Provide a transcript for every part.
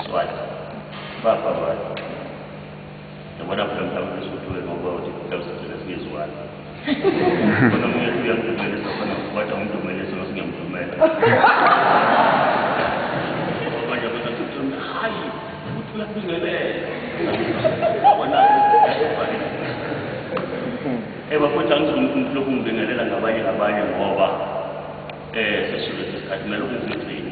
Swati. Baba wati. Yabona phela mhlawumbe usuthuke ngoba uthi kutawusitshela singezwani. Kodwa mina siyamdumela safana ngokwatha umdumele sona singamdumela. Abanye abantu bathi uthula hayi ukuthi uyabingelela. Yabona yabona. Eh bafowethu angizungumthi lokhu ngibingelela ngabanye ngabanye ngoba eh sesizwe sesikhathi kumele ukuzigcine.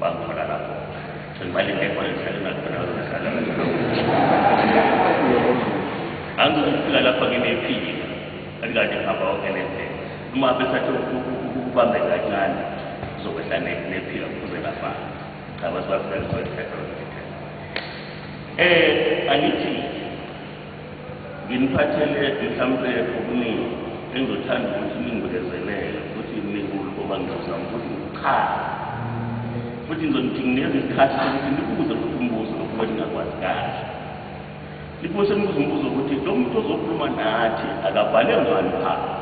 Bakhona lapho. Ngimali ngekho ngihlale ngakhona ngihlala. Angizofika lapha nginephile. Akade ngihamba wonke nendlela. Uma besathi ukubambe kancane uzokwehla nephika kuze lafana. Cha basibafika ngizothetha. Eh angithi Nginiphathele mhlawumpe okuningi engizothanda ukuthi ningibekezelele futhi ningikulu ngoba ngizozama ukuthi ngikuchaze futhi ngizonithingineza isikhathi sokuthi nibuze futhi umbuzo lokhu beningakwazi kahle niphose nibuze umbuzo ukuthi lo muntu ozokhuluma nathi akabhale ngani phansi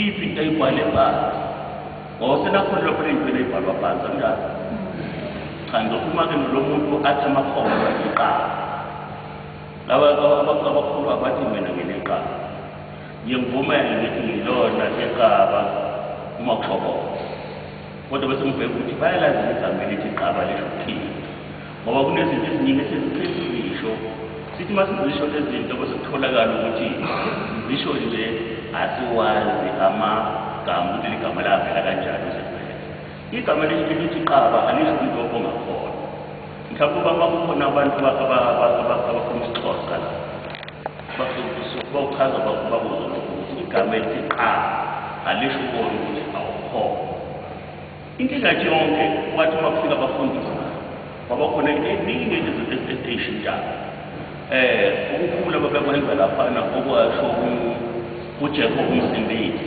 iphi into ayibhale phansi ngosenakholelwa phela impela ibhalwa phansi anjalo cha ngizokhuluma-ke nolo muntu athi amakhono iqala Laba abantu abakhulu abathi mina ngineqaba. Ngiyengivumela ngithi ngilona iqaba uma kushobona. Kodwa bese ngibheka ukuthi bayalazi igama elithi iqaba lisho ukuthini. Ngoba kunezinto eziningi esizithe sizisho. Sithi uma sizisho lezi zinto bese kutholakala ukuthi sizisho nje asiwazi amagama ukuthi ligama lavela kanjani. Igama elithi lithi qaba alisho umuntu ongakhona. Mhlawumbe uba kwakukhona abantu abakhuluma isiXhosa la bawuchaza bakubuza ukuthi igama elithi qaba alisho ukona ukuthi awukhona. Inkinga nje yonke wathi uma kufika abafundisi kwaba khona eningi izinto ezishintshayo. Eh ukukhula babekwenza lapha na okwasho uJehova umsindisi.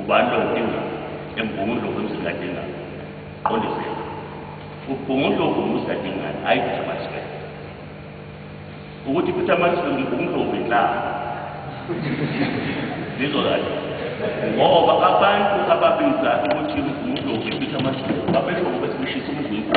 Ubani lo udinga embungundlovu emzingadingani? Qondisela. Ubhungundlovu umzingadingani, hhayi Peter Maxwell. Ukuthi Peter Maxwell umbhungundlovu inhlanga. Ngizwa kahle. Ngoba abantu ababiza ukuthi umbhungundlovu iPeter Maxwell babesho ngoba sibishisa umzimba.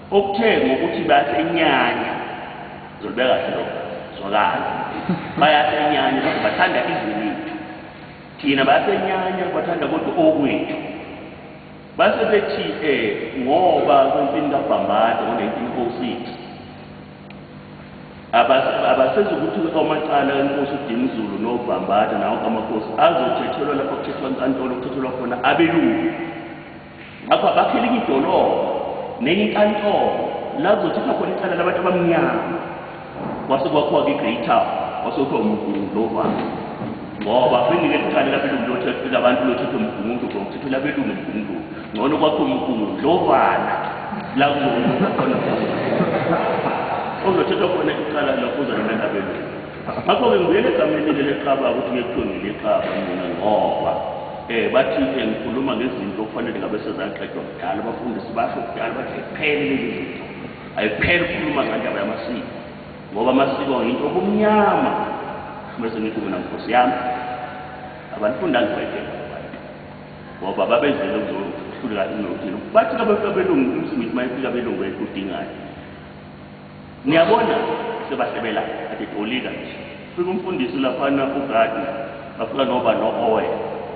Okuthe ngokuthi bayasenyanya zolibeka kahle lokho zwakala bayasenyanya kodwa bathanda izwe lethu thina bayasenyanya bathanda kodwa okwethu base bethi eh ngoba kwempini kabhambada ngo-1906 abasezi ukuthi amacala enkosi udinizulu nobhambada nawo kamakhosi azothethelwa lapho kuthethwa inkantolo kuthethelwa khona abelungu ngakho abakhele enye idolobha nenye inkantolo la kuzothathwa khona icala labantu abamnyama kwase kwakhiwa-ke i-great town kwase kuthiwa umgungu lovalo ngoba bengike liqale labelungu lothetho labantu lothetho mgungu ngomthetho labelungu mgungu ngcono kwakho mgungu lovana la kuzokhona ozothethwa khona icala lokho uzalona labelungu Ngakho-ke ngibuyela egameni leli lexaba ukuthi kuye kuthiwe ngilixaba mina ngoba um bathi um ngikhuluma ngezinto okufanele ngabe sezaqedwa kudala. Abafundisi basho kudala bathi ayiphele lezi zinto, ayiphele ukukhuluma ngendaba yamasiko ngoba amasiko yinto obumnyama. Bese ngithi mina nkosi yami abanifundanga ibhayibheli abantu ngoba babezele kuzohluleka inothile bathi abelungu umsimithi mayefika abelungu edingayo Niyabona sebasebela ade tolika nje. Fika umfundisi laphana uGardner bafika noba no-oil.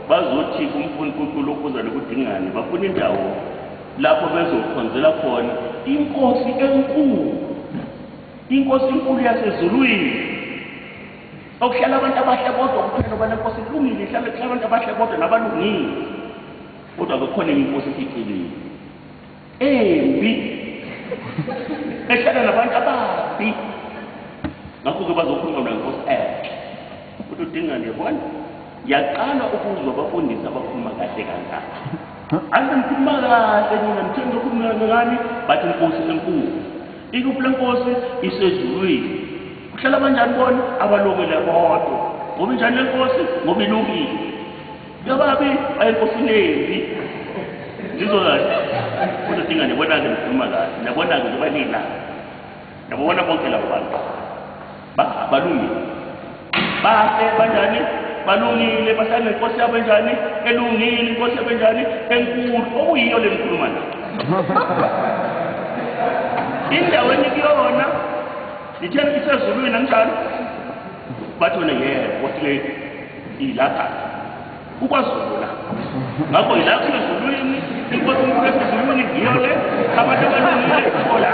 Bazothi umfundi kuNkulukuza nokudingane bafuna indawo lapho bezokhonzela khona iNkosi enkulu. INkosi enkulu yasezulwini. Okuhlala abantu abahle kodwa kuphela ngoba leNkosi ilungile ihlale kuhlala abantu abahle kodwa nabalungile. Kodwa kukhona enye iNkosi efihlekile. embi ehlala nabantu ababi ngakho-ke bazokhuluma mna nkosi enhle ukuthi udingani yabona yaqala ukuzwa abafundisi abakhuluma kahle kangaka angikhuluma kahle nina ngitheni lokhuluma ngani bathi inkosi enkulu ikuphi le nkosi isezulwini kuhlala abanjani bona abalungile bodwa ngoba injani le nkosi ngoba ilungile Yababi ayinkosinezi. Ngizwa kahle. Kodwa dinga nibona ke ngikhuluma kahle. Nabona ke kuba nina. Nabona bonke labo bantu. Ba balungile. Bahle banjani? Balungile bahlale nenkosi yabo enjani? Elungile inkosi yabo enjani? Enkulu okuyiyo le ngikhuluma nayo. Indawo enikuyona. Nithembe isezulwini anjalo. Bathole ngeke boss lady ilapha kukwazulu la. Ngakho ilapha ezulwini inkosi unkulu esezulwini ngiyo le abantu abaningi ithola.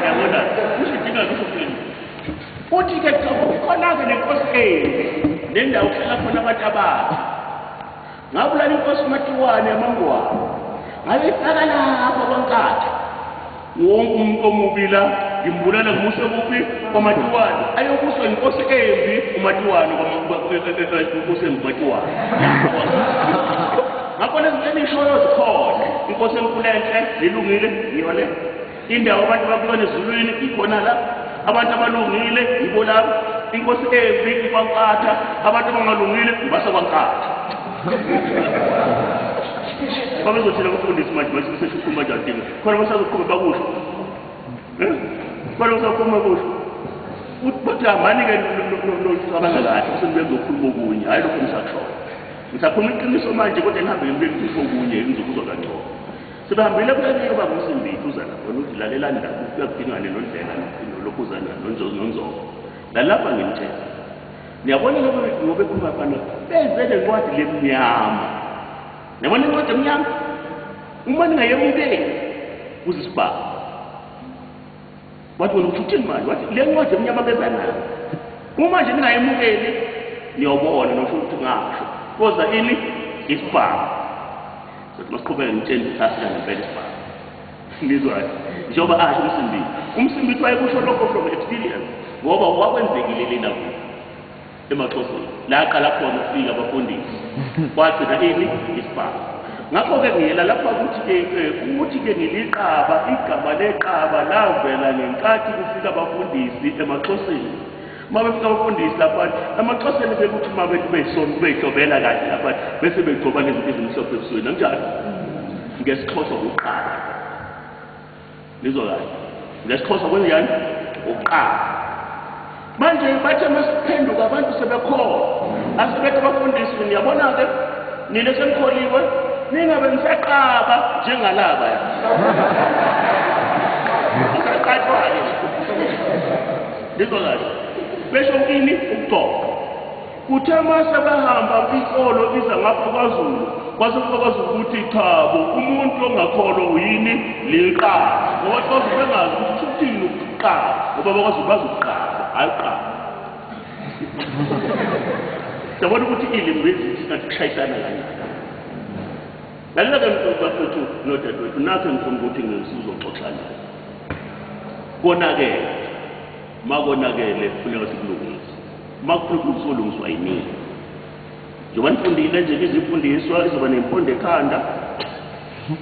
Yabona usidinga kusho kuthini? Uthi ke khona ke nenkosi enye nendawo kuhlala khona abantu abathi Ngabulala inkosi uMatiwane yamangwane. Ngayifaka lapha kwaNkatha. Wonke umuntu omubi la ngimbulala ngimuse kuphi kwaMatiwane. Ayobuswa inkosi embi uMatiwane inkosi embi uMatiwane. Ngakho lezi zinto enishoyo zikhona. Inkosi enkulu enhle, zilungile, ngiyona. indawo abantu bakuyona ezulwini ikhona la abantu abalungile yibo labo inkosi embi ikwankatha abantu abangalungile ibasa kwankatha babezothela abafundisi manje bathi besesho ukhuluma njani dinga khona basazoqhube bakusho eh? khona basazoqhuma kusho ukuthi hambani-ke nocabanga kahle usebuye kuzokhuluma okunye hhayi lokho ngisakushoyo ngisakhuluma iqiniso manje kodwa nihambe ngibuye ngifisa okunye ngizokuzwa kangcono Sibambile kuleminye yoba nguSimbithi uza lapha wena uthi lalelani lapha ufika kudingane nondlela nophuzana nonzozo nonzozo. Lalapha ngimtshela. Niyabona lokho ngobe khuluma abafana benze le ncwadi lemnyama. Niyabona incwadi emnyama? Uma ningayemukeli kuzisibaba. Wathi wena uthi uthini manje? Wathi le ncwadi emnyama beza nayo. Uma nje ningayemukeli niyobona nosho ukuthi ngasho. Koza ini? Isibhamu. Sothi masiqhubeke ngitsheni ukuthi asika ngempela isibhamu. Nizwayo. Njengoba asho umsimbili. Umsimbili wayekusho lokho from experience ngoba kwakwenzekile lena kuyo. emaxhoseni la aqala khona ukufika abafundisi kwagcina ini isibhamu ngakho-ke ngiyela lapha ukuthi-ke ukuthi-ke ngiliqaba igama leqaba lavela ngenkathi kufika abafundisi emaxhoseni uma befika abafundisi lapha emaxhoseni bekuthi uma beyitobela kahle lapha bese begcoba nezinto ezimhlophe ebusweni anjalo ngesixhosa kuqala Ngizwa kahle. NgesiXhosa kwenzenjani? Ukuqala. Manje bathe masiphenduka abantu sebekholwa. Asebethe abafundisi niyabona ke nina senikholiwe ningabe nisaqaba njengalaba ya. Usaqatshwa ke. Ngizwa kahle. Besho kini ukugqoka. Kuthe uma sebehamba inkolo iza ngapha kwaZulu kwase kufakaza ukuthi cha bo umuntu ongakholwa uyini liqala ngoba kwaZulu bengazi ukuthi uthini ukuqala ngoba bakwaZulu bazi ukuqala hhayi uqala siyabona ukuthi ilimi bezithi singathi kushayisana kanjani lalela-ke mfowethu nodadewethu nakho engifuna ukuthi ngisizoxoxa naye konakele makonakele funeka sikulungise Uma kuphepha uzolungiswa yinini? Njengoba nifundile nje izifundiswa izoba nempondo ekhanda.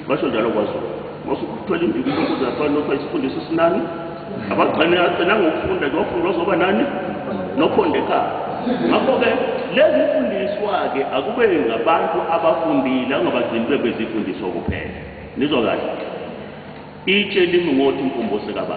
Basho njalo kwaZulu. Masukuthwela induku intokozo yafana nothiwa isifundiswa esinani. Abagcine agcina ngokufunda ke wafunda wazoba nani? Nopondo ekhanda. Ngakho-ke lezi fundiswa-ke akube ngabantu abafundile angabagcini bebezifundiswa kuphela. Nizwa kahle. Itshe limi ngothi umfumbo sekababa.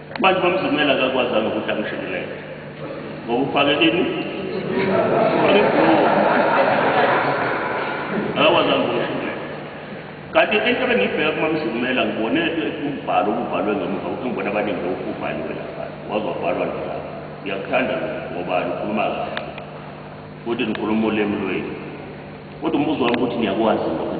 Manje uMamzumela akakwazanga ukuthi angishikelele ngoba ufake ini akakwazanga ukungishikelele kanti into ebengiyibheka kumamzumela ngibone umbhalo ububhalwe ngemuva ngibona abaningi bewubhaliwe lapha waze wabhalwa nalapha ngiyakuthanda ngoba lukhuluma kahle futhi nikhuluma ulimi lwenu kodwa umbuzo wami ukuthi niyakwazi lokho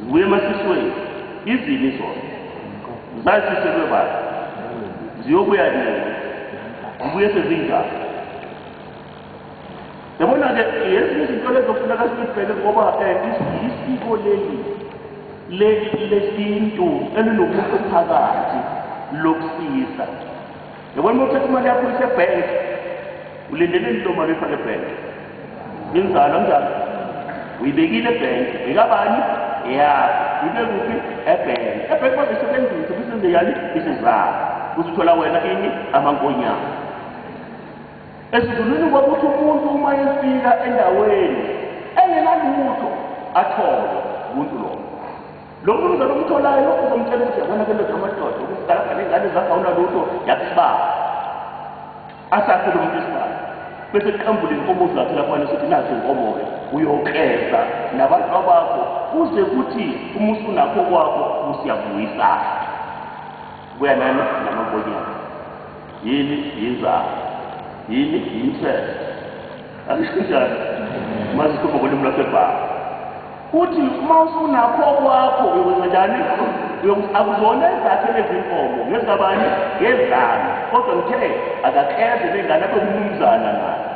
Zibuye emasisweni izini zona. Zasiselwe bani? Ziyobuya nini? Zibuye sezinjani? Yabona-ke yezinye izinto lezofuneka sibheke ngoba um isiko leli lesintu elinomuntu phakathi lokusiza Yabona uma uthatha imali yakho uyise ebhenki, ulindele into mali uyifake ebhenki. Inzalo kanjani? Uyibekile ebhenki, bekabani? Eyakho. Ibe kuphi? Ebhenki. Ebhenki bazosebenzisa kusenze yani isizalo. Uzithola wena ini amankonyana. Esizulwini kwakuthi umuntu uma efika endaweni engenalutho athole umuntu lowo. Lo mnumzane omtholayo lokhu uzomtshela ukuthi yabona ke ndoda amadoda ukuthi zalapha nengane zagawula lutho yathi sibaba. Asakhe lo muntu isibaba. Bese kuqambula inkomo zakhe lapha nesithi nazi inkomo-ke uyokleza nabantu bakho kuze kuthi uma usunakho kwakho usiyabuyisana. Kuya nani namankonyana. Yini yinzalo. Yini yinhlelo. Angisho kanjalo. Uma sikhuluma ngolimi lwaseBhayi. Uthi uma usunakho okwakho uyokwenza njani? Uyokuthi akuzona ezakhe lezinkomo, ngezabani? Ngezami. Kodwa ngithe akakheze bengane abe umnumzana naye.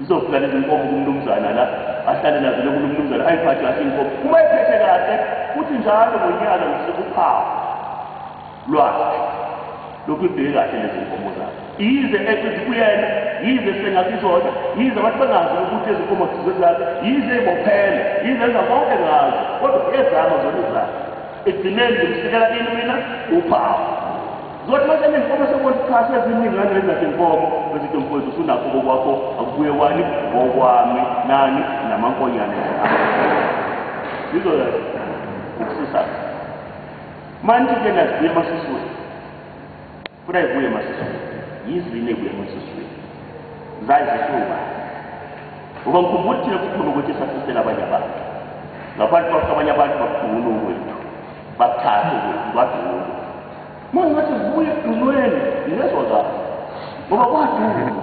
Zizofika lezi nkomo kumnumzana la, ahlale nazo loku lomnumzana ayiphathe kahle inkomo. Uma ephethe kahle, uthi njalo ngonyaka ngisuke uphawu. lwakhe lokuyibheke kahle lezi nkomo zakhe yize ethi zibuyele yize sengasizona yize abantu bengazi ukuthi ezinkomo zizezakhe yize ibophele yize enza konke ngazo kodwa ezama zona zakhe ekugcineni ngimsikela kini mina uphawu zothi mase nezinkomo sekubona cha seziningi ngalezi zakhe nkomo bezithi mfowethu usunakho kokwakho akubuye kwani ngokwami nani namankonyane zizoya ukusisa Manje ke nazibuye emasisweni. Funa ibuye emasisweni. Yizwi nebuye emasisweni. Zayi zisuka. Ngoba ngikhumbula thina kukhona ukuthi sasisela abanye abantu. Ngaphansi kwakho abanye abantu bakudungula ukwethu. Bakuthatha ukwethu badungula. Manje ngathi zibuye ekudungweni ngezwa kahle. Ngoba kwadungula.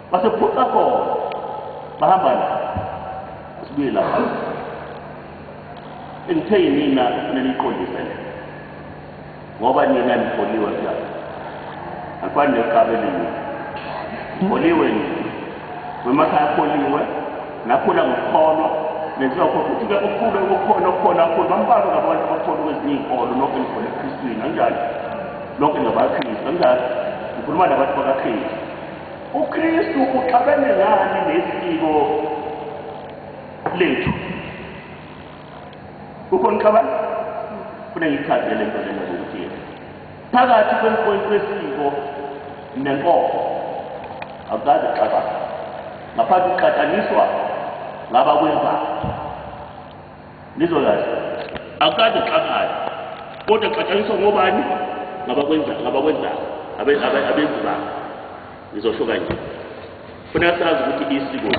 Basephuca khona. Bahamba la. Sibuye lapha. Engithe yinina neliqondise le. Ngoba nina nifoliwe mntana. Afani neqabe lini. Foliwe ni. Wemakhaya foliwe. Nakhula ngokhono. Nenziwa khona ukuthi ke ukhule ukukhona okukhona kakhulu bambalwa ngabantu abakhona kwezinye izinkolo nokho ngikholwa eKristwini kanjalo. Nokho ngabaKristu kanjalo. Ngikhuluma nabantu bakaKristu. UKristu uxabene ngani nesiko lethu? Ukhona uxabana? Funa ngichazele into lena ukuthi phakathi kwemfowethu wesiko nenkolo akukaze xabana ngaphandle kuqhathaniswa ngabakwenzayo Nizolala. Akukade xakala. Kodwa xatshaniswa ngobani? Ngabakwenza ngabakwenza abe abe abenzi ba. Ngizosho kanje. Funa sazi ukuthi isiko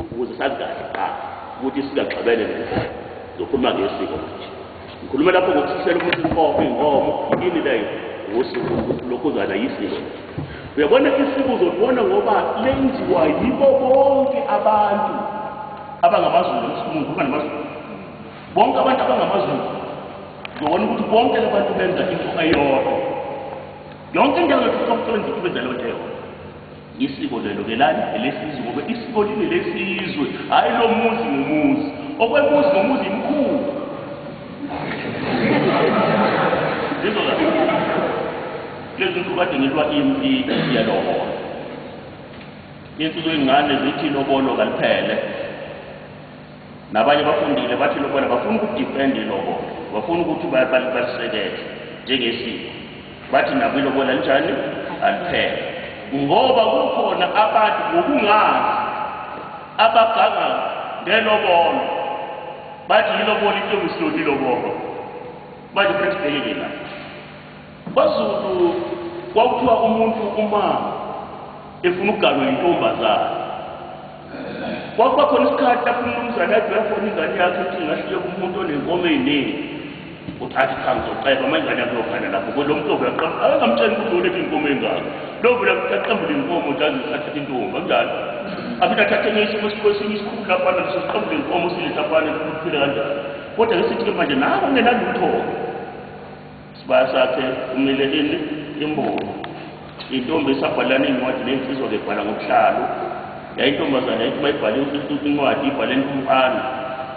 ukuze sazi kahle qa ukuthi sikaxabene nini. Zokhuluma ngesiko manje. Ngikhuluma lapho ngokuthusela umuntu inkomo inkomo yini leyo ngosuku lokhuzana yisiko. Uyabona isiko uzolibona ngoba lenziwa yibo bonke abantu abangamaZulu esikhumulu kuba namaZulu. Bonke abantu abangamaZulu uzobona ukuthi bonke labantu benza into eyodwa. Yonke indawo yethu somsebenzi ibenza lento eyodwa. Isiko lelo ke lani elesizwe ngoba isiko lile lesizwe hayi lo muzi ngomuzi okwemuzi ngomuzi imkhulu Zizwa kahle lezi nsuku kade ngilwa impi yalobola insuku ingane zithi lobolo kaliphele Nabanye bafundile bathi lokubana bafuna ukudifenda ilobola, bafuna ukuthi balisekele njengesiko. Bathi nabo ilobola linjani? Aliphele. Ngoba kukhona abantu ngokungazi abaganga ngelobola. Bathi ilobola into engusiloti ilobola. Manje khetha ubhekeke la. KwaZulu kwakuthiwa umuntu uma efuna ukuganwa yintombazane kwakuba khona isikhathi lapho umnumzane athi uyafona ingane yakhe ukuthi ingashiye kumuntu onenkomo ey'ningi ukuthi athi cha ngizoceba uma ingane yakhe yophana lapho kodwa umuntu ovula qamba akangamtsheli ukuthi ulethe iy'nkomo ey'ngaka lo vula aqambule iy'nkomo nje aze athathe intombi akunjalo aphinde athathe enye isimo esinye isikhulu lapho analeso siqambule iy'nkomo usiletha afane kuphile kanjalo kodwa ke sithi-ke manje nabo kungenalutho-ke Sibaya sakhe kumile ini imboni. Intombi esabhalana incwadi nensizwa ke bhala ngokuhlalo. Yayintombazana yayithi bayibhala incwadi ibhala entumpana.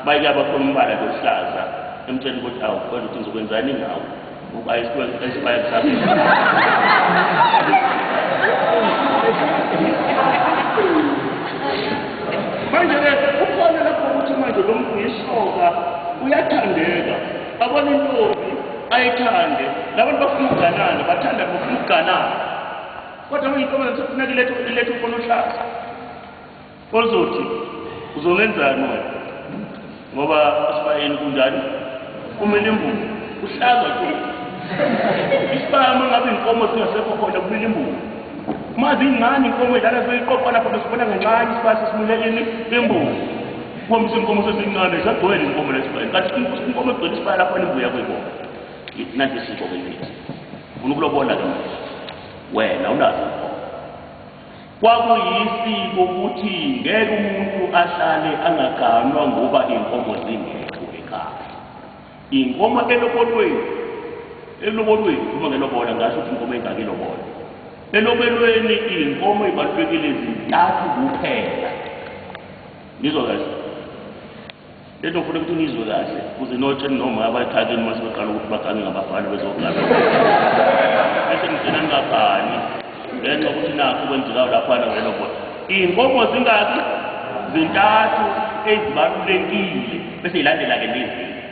Bayike abakhona umbala lohlaza emtshela ukuthi awu kodwa uthi ngizokwenzani ngawo. Uba isibaya isibaya sakhe. Manje ke ukhona lapho ukuthi manje lo mntu yisoka uyathandeka. babona intombi ayithande labantu bafuna ukuganana bathanda bafuna ukuganana kodwa uyintombi sefuna kuletha iletha ufuna uhlaza ozothi uzongenzani wena ngoba asibayeni kunjani kumele imbuzi uhlaza tu isibaya uma ngabe inkomo singasekho khona kumele imbuzi uma zingani inkomo idlala seyiqoqwa lapho besibona ngencane isibaya sesimuleleni imbuzi Uma isinkomo sesincane sagcwele izinkomo lesibaya. Kathi inkomo egcwele isibaya lapho elimbuya kuyibona. Nanti isiko ke lithi. Ufuna ukulobola ke manje. Wena unazo inkomo. Kwakuyisiko ukuthi ngeke umuntu ahlale angaganwa ngoba inkomo zingekho ekhaya. Inkomo elobolweni elobolweni uma ngelobola ngasho ukuthi inkomo engake ilobola. Elobelweni inkomo ibalulekile izintathu kuphela. Ngizwa kahle. Lento ngifuna ukuthi ngizwe kahle kuze notsheni noma abayithakini uma sebeqala ukuthi bagange ngabafana bezogana. Bese ngigcina ngingagani ngenxa ukuthi nakho kwenzekayo laphana ngelo bhola. Iy'nkomo zingaki? Zintathu ezibalulekile bese yilandela-ke lezi.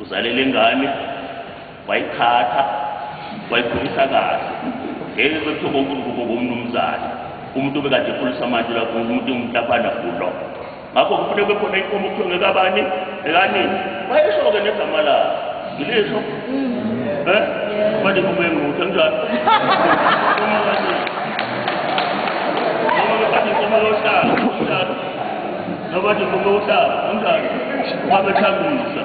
Uzale le ngane wayithatha wayikhulisa kahle ngeke kwethiwa konke ukubo komnumzane umuntu obekade ekhulisa manje lapho umuntu umntaphana kulo ngakho kufuneka kube khona inkomo kuthiwa ngekabani ekanini wayesho-ke negama lakhe ngilisho um eh? manje kubuye nguthe njalo Nobody from Osa, Ungarn, Mama Chamisa.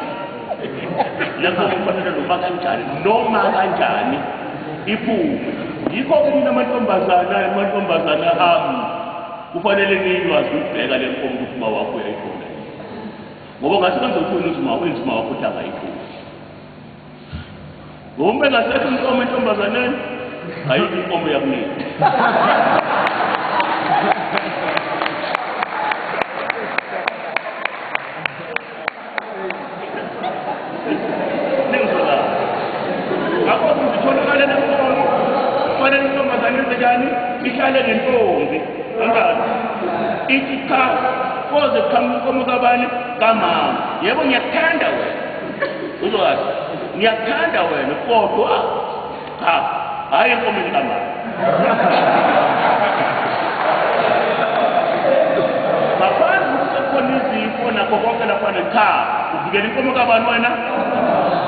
Lapho kufanele noma kanjani, noma kanjani iphume. Yikho ke nina amantombazana, amantombazana ami kufanele niywazi ukubheka le nkomo ukuthi uma wakho uyayithola. Ngoba ngathi kwenza ukuthi wena uzima, wenzima wakho ukuthi angayithola. Ngombe ngasethi inkomo entombazaneni ayikho inkomo yakunini. ihlale nentombi angazi ithi cha koze kuqhamuka inkomo kabani kamama yebo ngiyakuthanda wena uzoyazi ngiyakuthanda wena kodwa cha hhayi enkomeni kamama ngaphandle kusekhona izifo nakho konke laphana cha uvikela inkomo kabani wena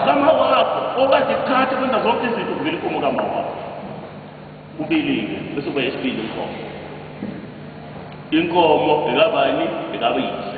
kama wakho okade kuthatha kwenza zonke izinto uvikela inkomo kama wakho ubilike bese kuba yesibili inkomo inkomo ekabani ekabiyise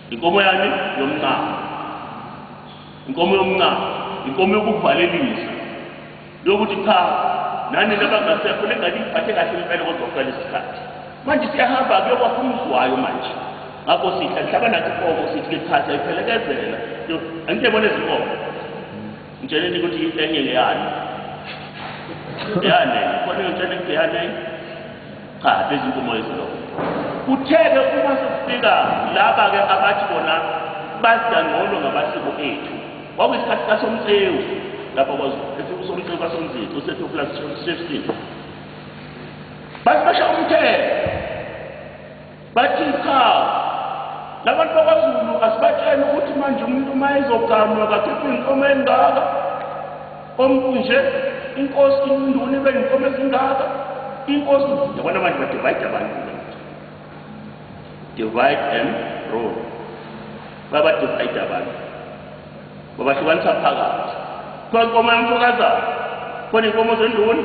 Inkomo yani yomncamo. Inkomo yomncamo, inkomo yokuvalelisa. Lokuthi cha nani nabangasekho lengane iphathe kahle impela kodwa kuqala isikhathi. Manje siyahamba kuyokwakha umzwayo manje. Ngakho sithi angihlaba nathi inkomo sithi ke chathi ayiphelekezela. Angike bona izinkomo. Ngitsheleni ukuthi enye ngeyani. Yani, kodwa ngitshela ukuthi yani Cha, izinkomo ezilokho. Kuthe-ke uma sekufika laba-ke abathi bona bazidangcono ngamasiko ethu, kwakuyisikhathi kaSomtsewu lapha kwaZulu, ethi uSomtsewu kaSomzici, uSethu plus Shefskin. Basibasha umthetho. Bathi cha labantu bakwaZulu asibatshela ukuthi manje umuntu uma ezoganwa kakhipha inkomo engaka ompunje inkosi induna ibe inkomo ezingaka inkosi yabona manje ba divide abantu divide and rule baba divide abantu babahlukanisa phakathi khona inkomo yomfokazana khona inkomo zenduna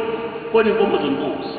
khona inkomo zenkosi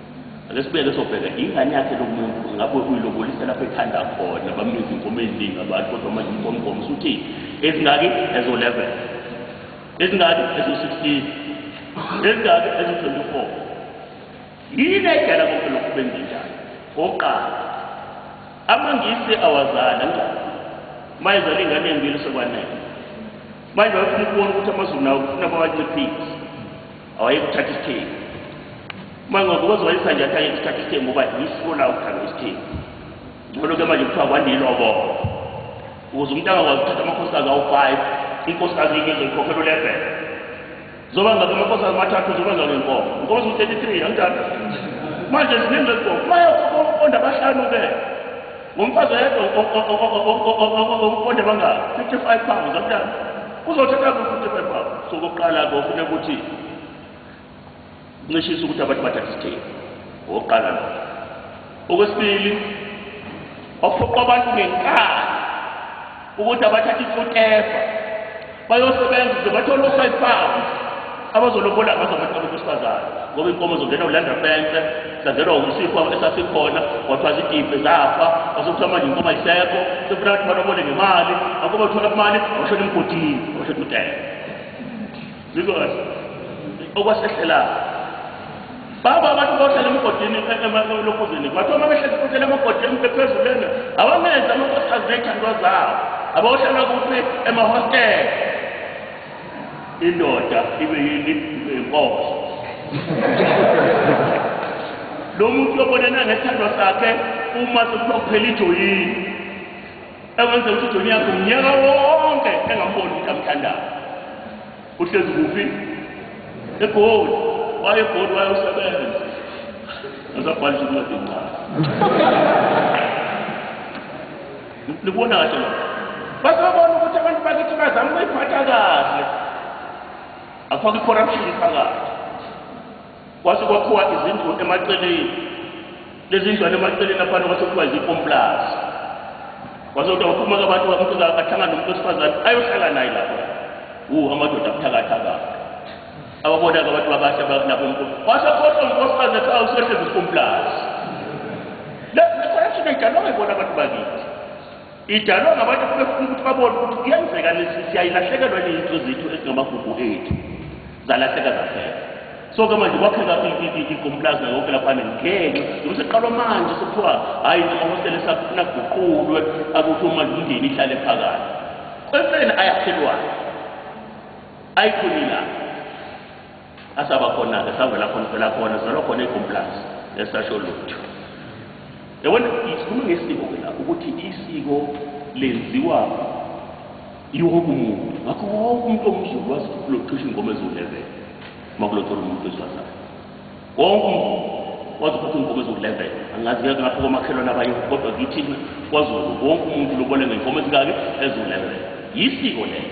Ake sibeke sobheka ingane yakhe lo muntu ingabe uyilobolisa lapho ethanda khona bambiza inkomo eziningi abantu kodwa manje inkomo inkomo usuthi ezingaki ezo-11 ezingaki ezo-16 ezingaki ezo-24 yini edala konke lokhu benze njani oqala amangisi awazala njani mayezala ingane embili sekwanele manje bayofuna ukubona ukuthi amazulu nawo kufuna bawanciphise awayekuthatha isithembu uma ngokuze wayisa nje athi ayekuthatha isithembu uba yisiko lawo ukuthatha isithembu ngcono-ke manje kuthiwa kwaniloboko ukuze umuntu angakwazi ukuthatha amakhosikazi awu-five inkosikazi yinye izoyikhokhela ulevele zoba ngabe amakhosikazi amathathu zoba ngabe inkomo inkomo ziwu-thirty three anginjalo manje ziningi lezikomo mayekhokha umqonda abahlanu-ke Ngomfazi oyedwa omponde bangaki 55 pounds amntana uzothatha ku 55 pounds so kokuqala ke ufuna ukuthi ncishisa ukuthi abantu bathathe isithembu okokuqala lo okwesibili ophoqa abantu ngenkani ukuthi abathathe ifutefa bayosebenza ukuze bathole o-five pounds abazolobola ngazo abantu abantu besifazane ngoba inkomo zongena ulanda fence zazelwa umsifo esasikhona kwathiwa zidibhe zafa kwasokuthiwa manje inkomo ayisekho sekufuna ukuthi balobole ngemali akuba uthola imali awushona emgodini awushona umdela Ngizwa kahle. Okwasehlela. Baba abantu bohlala emgodini emalokuzini. Kwathi uma behlezi futhi emagodini bephezulu lena, awamenza amakhosikazi nezithandwa zawo. Abawohlala kuphi emahostela. Indoda ibe yini ibe inkosi. Lo muntu yobonana ngesithandwa sakhe uma sekuphela ijoyini. ekwenze ukuthi ujoni yakhe umnyaka wonke engamboni ukuthi amthandayo uhlezi kuphi egoli waye egoli wayosebenza asabhalisa incwadi encane nibona kahle lo basebabona ukuthi abantu bakithi bazama ukuyiphatha kahle afake i-corruption phakathi Kwase kwakhiwa izindlu emaceleni. Lezi ndlu emaceleni laphana kwase kuthiwa izikomplazi. Kwase kuthiwa uphuma abantu umuntu ahlangana nomuntu wesifazane ayohlala naye lapho. Wu amadoda abuthakathaka. Ababona-ke abantu abahle lapho umuntu. Kwase khohlwa unkosikazi ethi awusehlezi izikomplazi. Le corruption ayidalwanga ibona abantu bakithi. Idalwa ngabantu abebefuna ukuthi babone ukuthi kuyenzeka lesi siyayilahlekelwa neyinto zethu ezingamagugu ethu zalahleka zahleka so ke manje kwakheka ikompulazi nayo yonke laphana ngenxa noma seqalwa manje sekuthiwa hhayi namahostela esafuna guqulwe akuthi uma imndeni ihlale phakathi empeleni ayakhelwayo ayikhonilanga Asaba khona-ke savela khona phela khona zalwa khona ekomplazi esasho lutho yabona isikhuluma ngesiko ke lapho ukuthi isiko lenziwa iwoke umuntu ngakho woke umuntu omzulu wazi ukuthi kulothisha ingoma eziwu-11 uma kulothola umuntu wesifazane wonke umzulu wazi ukuthi ingoma eziwu-11 angazi ke ngapho komakhelwane abanye kodwa kithina kwazulu wonke umuntu lobole ngey'nkomo ezingaki eziwu-11 yisiko lelo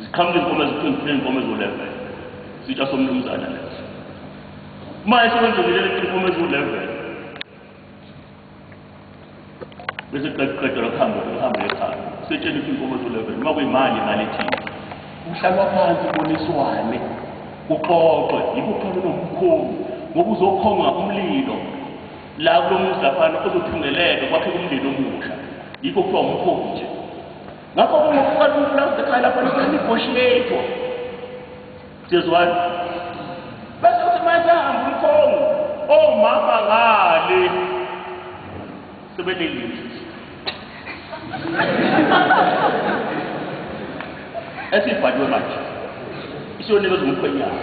Ziqhamuka inkomo eziqinile inkomo ezolevel. Sitsha somnumzana leso. Uma esebenzile inkomo ezolevel. Bese qeqeqe lokuhamba ukuhamba ekhaya. Setshela ukuthi inkomo ezolevel. Uma kuyimali imali ethini. Kuhlalwa phansi kuboniswane. Kuxoxwe yikukhona nomkhulu ngoba uzokhonga umlilo la kulomuzi laphana uzothungeleka kwakhe umndeni omusha. Yikho kuthiwa umkhulu nje. ngakho kungokuba liwupulazi ekhaya lapho lisenegotiator siyezwana bese uthi uma esehamba umkhongo omama oh, ngale sebelelile esibhaliwe manje isiyonikezwa umkhwenyana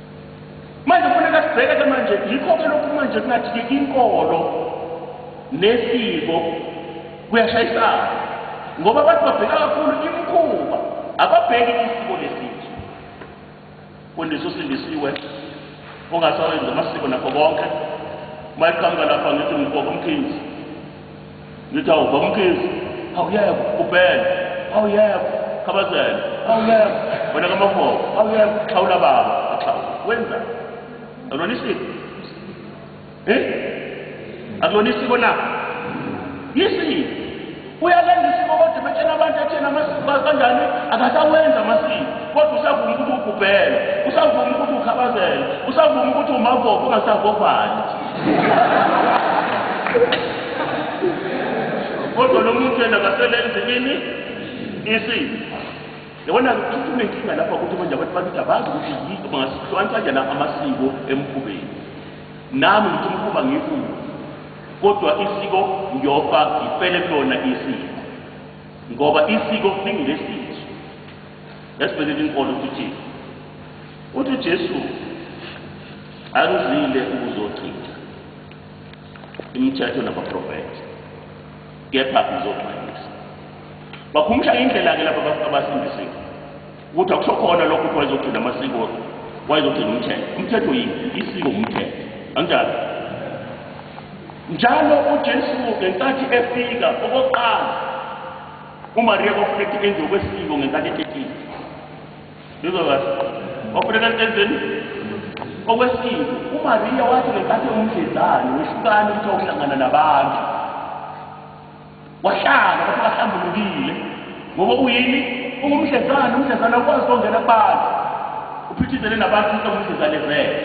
Manje kufuneka sibheke ke manje yikho ke lokhu manje kungathi ke inkolo nesiko kuyashayisana ngoba abantu babheka kakhulu imikhuba ababheki isiko lesizwe fundisa usindisiwe ungasawenzi amasiko nakho konke uma eqhamuka lapha ngithi ngibhoko umkhinzi Ngithi awu bamkhizi, awuyekho ubhele, awuyekho khabazela, awuyekho wena kamafoko, awuyekho xhawula baba, axhawula. Wenza. Akulona isiko. Eh? Akulona isiko na? Yisiko. Uyalenza isiko kodwa betshena abantu athena amasiko kanjani akasawenza amasiko. Kodwa usavuma ukuthi ubhubhele, usavuma ukuthi ukhabazela, usavuma ukuthi umavoko ungasavovali. kodwa lo muntu yena kaselenzi ini isini yabona ukuthi unenkinga lapha ukuthi manje abantu bakithi abazi ukuthi yini bangasihlukanisa kanjani amasiko emkhubeni nami ngithi umkhuba ngikuwo kodwa isiko ngiyofa ngifele kulona isiko ngoba isiko lingilesizwe yasibekela inkolo ukuthi uthi ujesu Angizile ukuzochitha imithetho nabaprofethi, kepha ngizoxwayisa. Bakhumsha indlela-ke laba bantu abasindisiwe ukuthi akusho khona lokho ukuthi wayezogcina amasiko, wayezogcina umthetho. Umthetho yini? Isiko umthetho, anjalo? Njalo uJesu ngenkathi efika okokuqala, uMariya kwafuneka enziwe kwesiko ngenkathi etetile. Ngizwa kahle. Wafuneka entenzeni? Okwesibili, uMariya wathi ngenkathi ewumdlezane wehlukana ukuthi wawuhlangana nabantu. Wahlala wathi kahlambulukile ngoba uyini? Ungumdlezane, umdlezane awukwazi ukongena kubantu. Uphithizele nabantu ukuthi ungumdlezane vele.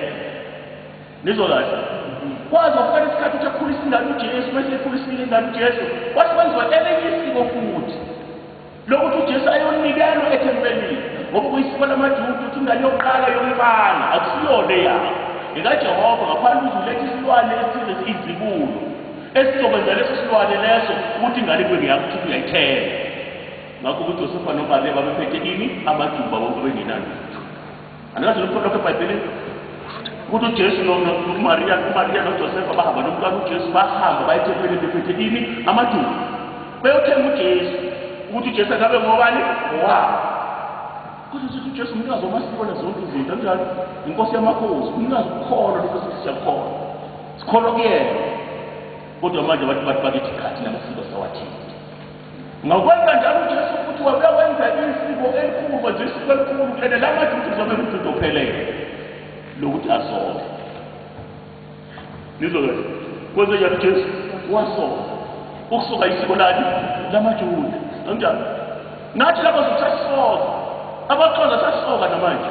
Ngizwa kahle. Kwaze kwafika isikhathi ukuthi akhulisa ingane uJesu, bese ekhulisa ingane uJesu, wathi kwenziwa elinye isiko futhi. lokuthi uJesu ayonikelwa ethempelini ngoba kuyisiko lamaJuda ukuthi ingane yokuqala yomfana akusiyona eyabo ngekaJehova ngaphandle ukuthi ulethe isilwane esithize izibulo esizokwenza leso silwane leso ukuthi ingane kube ngeyakuthi uyayithela ngakho uJosefa noMariya babephethe ini amajuba bonke bengenalutho andikazi lokho lokho ebhayibhelini ukuthi ujesu nomariya umariya nojosefa bahamba nomntwana ujesu bahamba bayethempelini bephethe ini amaduku beyothenga ujesu ukuthi ujesu akabe ngobani ngowabo kodwa sithi ujesu umnikazi wamasiko nezonke izinto anjalo inkosi yamakhosi umnikazi ukukholwa lokho sithi siyakholwa sikholwa kuyena kodwa manje abantu bathi bakithi khathi namasiko sawathinta Ngakwenza njalo uJesu futhi wabuya wenza isiko elikhulu, wenza isiko elikhulu, and la maJuda uzobe nguJuda ophelele lokuthi asole. Nizwa kahle. Kwenze njalo uJesu wasola. Ukusoka isiko lani lamaJuda. Kanjalo. Nathi laba sasisona. Abaxhosa sasisoka namanje.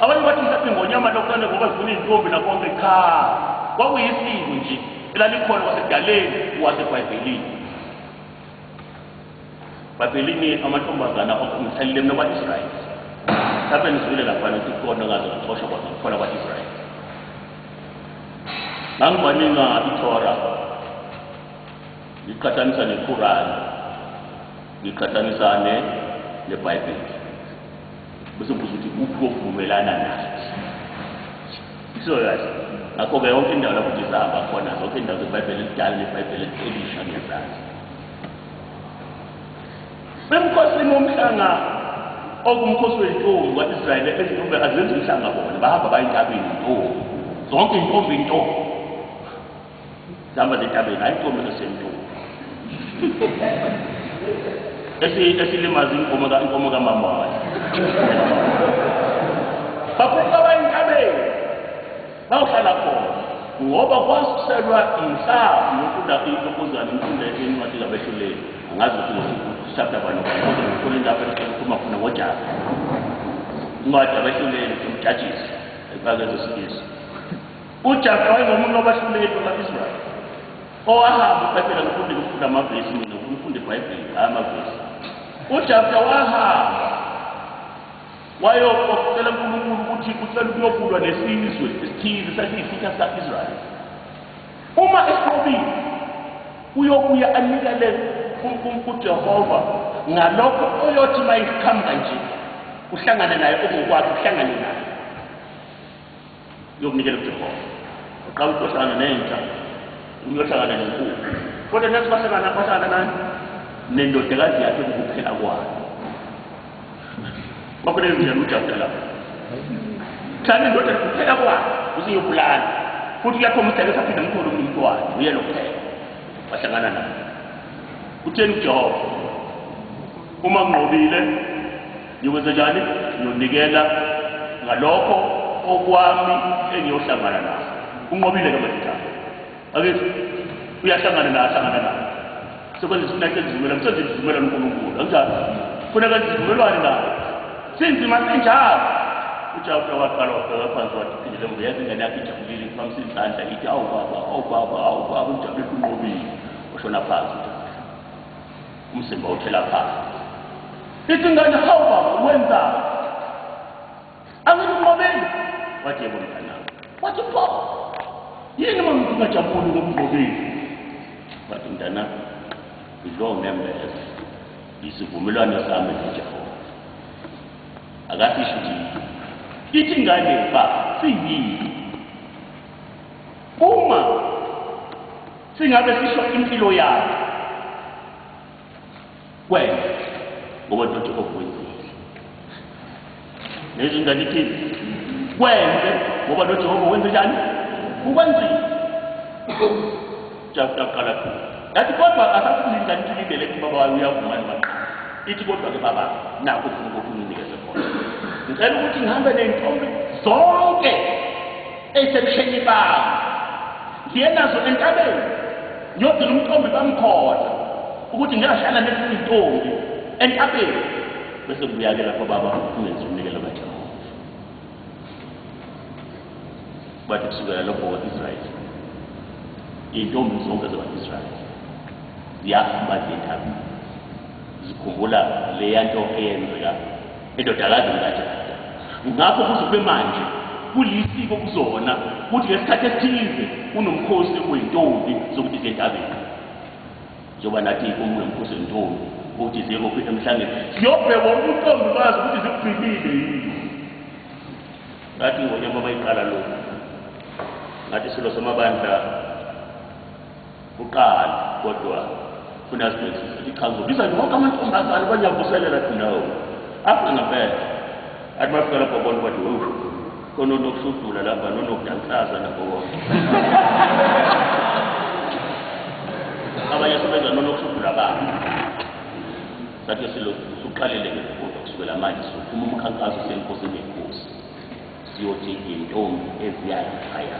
Abanye bathi mhlawumbe ingonyama lokuqala ngoba zifuna izintombi nakonke cha kwakuyisiko nje elalikhona kwasekudaleni wasebhayibhelini bhayibhelini amantombazana omthelile mna kwa-israyeli mhlawumbe nizwile lapha nokuthi kukhona ngaze kuxoshwa kwaze kuthola kwa-israyeli ngangibaninga ithora ngiqhathanisa nequrani ngiqhathanisa ne nebhayibheli bese ubuza ukuthi kuphi kovumelana nathi serious ngakho-ke yonke indawo lapho uthi zihamba khona zonke indawo zebhayibheli elidala nebhayibheli elisha ngezazi bemkhosini womhlanga okumkhosi wentombi kwaisrayeli ezintombi azenzi umhlanga bona bahamba bayentabeni ntombi zonke intombi intombi Sihamba lentabeni hayi inkomo esesentuku. Esi esilimaza inkomo ka inkomo ka mama wayo. Bakhupha bayintabeni. Bawuhlala khona ngoba kwasuselwa inhlavu yokunda inkokuzana imfunda yencwadi kabehluleli angazi ukuthi chapter bani kodwa ngifuna indaba ekhuluma khona ngojaka incwadi yabehluleli umjajisi ekubakeza isifiso UJasu wayengomunye wabahluleli bama-Israyeli owahamba uBhayibheli angifunde ngifunda amavesi mina ngifunda iBhayibheli hhayi amavesi uJasu wahamba wayokucela uNkulunkulu ukuthi ucela ukuyokulwa nesizwe esithize sasiyisitha sika-Israyeli uma esinqobile uyobuya anikele kuJehova ngalokho oyothi uma isiqhamuka nje uhlangane naye okungokwakhe uhlangane naye yokunikela kuJehova uqala ukuhlangana nenja uyohlangana nenkulu kodwa nathi bahlangana bahlangana nani nendodakazi yakhe kukuphela kwayo kwakuleyo ndlela ujabulela lapho thana indoda kuphela kwayo usiyobulala futhi uyakhombisa ukuthi aphinde amthole omunye umntwana uyena kuphela wahlangana naye utheni ujehova uma nqobile Ngiyokwenzenjani? Ngiyonikela ngalokho okwami engiyohlangana naso. Unqobile ke madodana. Akithi uyahlangana naye ahlangana naye. Sekwenza isinyathelo esivumelwano, senza isivumelwano uNkulunkulu. Anjalo. Funa kwenza isivumelwano naye. Sinzima senjalo. UJakobe waqala wabheka phansi wathi phindele ngoba yazi ingane yakhe ijabulile iphamisa izandla ithi awu baba, awu baba, awu baba ujabule kunqobile. Washona phansi uJakobe. Umzimba uthela phansi. Ithi ingane hawu baba wenzani? Angikunqobeni. Wathi yebo mntanami. Wathi pho. Yini uma ngithi ungajabuli ngokunqobile? Wathi mntanami ngidlo ngembeza. Isivumelwano sami noJehova. Akasisho ukuthi ithi ingane baba siyini? Uma Singabe sisho impilo yakhe kwena ngoba doti okwenzile nezwi ngalithini kwenze ngoba noJehova wenze njani ukwenzile jaqaqala yathi kodwa asasilindla nilindele kubaba wayo uyavuma nibaqala ithi kodwa ke baba nakho ufuna ukuthi unginikeze khona ngicela ukuthi ngihambe ney'ntombi zonke esebusheni bami ngiye nazo entabeni ngiyogcina umthombi bamkhona ukuthi ngiyahlala nezinye izintombi entabeni bese kubuya-ke lapho baba ungenza umnikelo kajehova bathi kusukela lokho kwa-israyeli iy'ntombi zonke zakwa-israyeli ziyaphuma ziye entabeni zikhumbula leya nto eyenzeka indodakazi kaJada. Ngakho kuze kube manje kulisiko kuzona ukuthi ngesikhathi esithize unomkhosi wey'ntombi zokuthi ziyentabeni njengoba nathi iy'nkomo nomkhosi wentombi ukuthi ziyekophi emhlangeni siyobhekwa ubuntombi bazi ukuthi zikubhilile yini ngathi ngonyama bayiqala lokhu ngathi silo samabandla Buqali kodwa funa sibhekisise ukuthi cha ngizobiza wonke amantombazane uba ngiyavuselela athi no afuna ngempela athi bafika lapho bona bathi wewu khona onokushudula lapha nonokudansaza nakho konke abanye sebenza nonokushudula abantu sathi silokhu usuqalele ngekufundo kusukela manje sizophuma umkhankaso senkosini yenkosi siyothi intombi eziyayichaya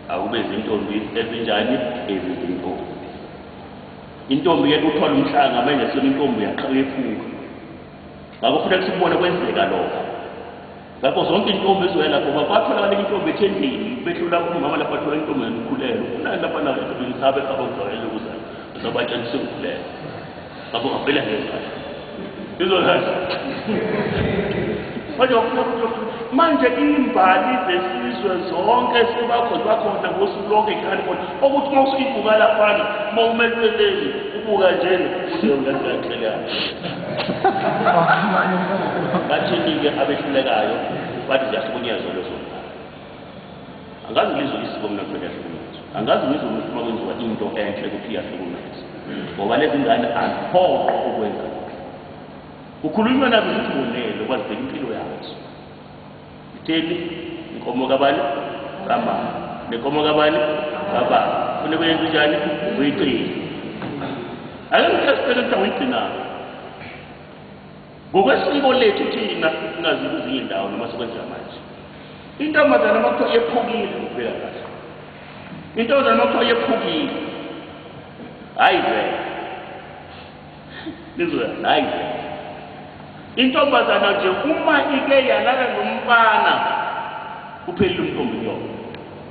Akube zintombi ezinjani ezi zintombi. Intombi ke kuthola umhlanga manje sona intombi uyaqala ephuka. Ngakho futhi kusibone kwenzeka lokho. Ngakho zonke intombi ezoya lapho batholakala intombi ethendeni behlula umama lapha thola intombi yokukhulelwa. Kunani lapha na intombi ngisabe khaba ngizwakele ukuzana. Ngizobatshela ukuthi sekukhulelwa. Baba ungavela ngezala. Izolala. Manje wafuna ukuthi manje imbali zesizwe zonke sebakhona bakhona ngosuku lonke ikhani khona okuthi uma usuyibuka laphana uma umelweleni ubuka njena useungaziyaxelana bathini-ke abehlulekayo bathi ziyahlukunyezwa lezo Angazi ngizwe lisiko mina kuthiwa liyahlukumeza. Angazi ngizwe ukuthi uma kwenziwa into enhle ukuthi iyahlukumeza. Ngoba lezi ngane aziphoqwa ukwenza lokhu. Kukhulunywa nazo ukuthi bonele kwazibheka impilo yazo. Itheni inkomo kabani? Kamama. Nenkomo kabani? Kababa. Fune kuyenza njani? Uyigcina. Ake ngithe sibheke ukuthi awuyigcinanga. Ngokwesiko lethu thina singazikuzinye indawo noma sikwenzeka manje. Intombazane uma kuthiwa yephukile ukubheka kahle. Intombazane uma kuthiwa yephukile. Hayi vele. Nizoya hayi vele. Intombazana nje uma ike yalala nomfana uphelile umthombo yona.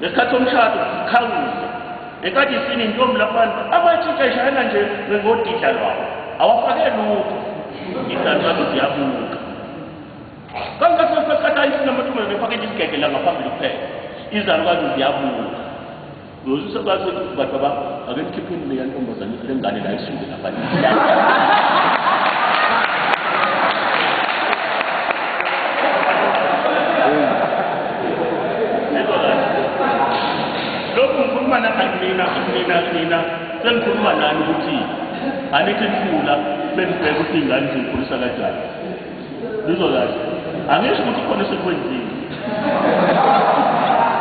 ngesikhathi somshado sikhangise ngenkathi isini intombi labantu abatshintsha ishayela nje ngodidla lwawo awafake lutho idancazo ziyabuka kangathi sesikhathi ayisini amantombazane ephakethe isigege la ngaphambili kuphela izalukazi ziyabuka uyozusa bathi bantu aba ake nikhipheni leya ntombazane lengane la isuke lokhu ngikhuluma nanganina nina nina sengikhuluma nani ukuthi angithi nifuna benibheke ukuthi ingane ziyikhulisa kanjani Ngizolazi. Angisho ukuthi khona sekwenzile.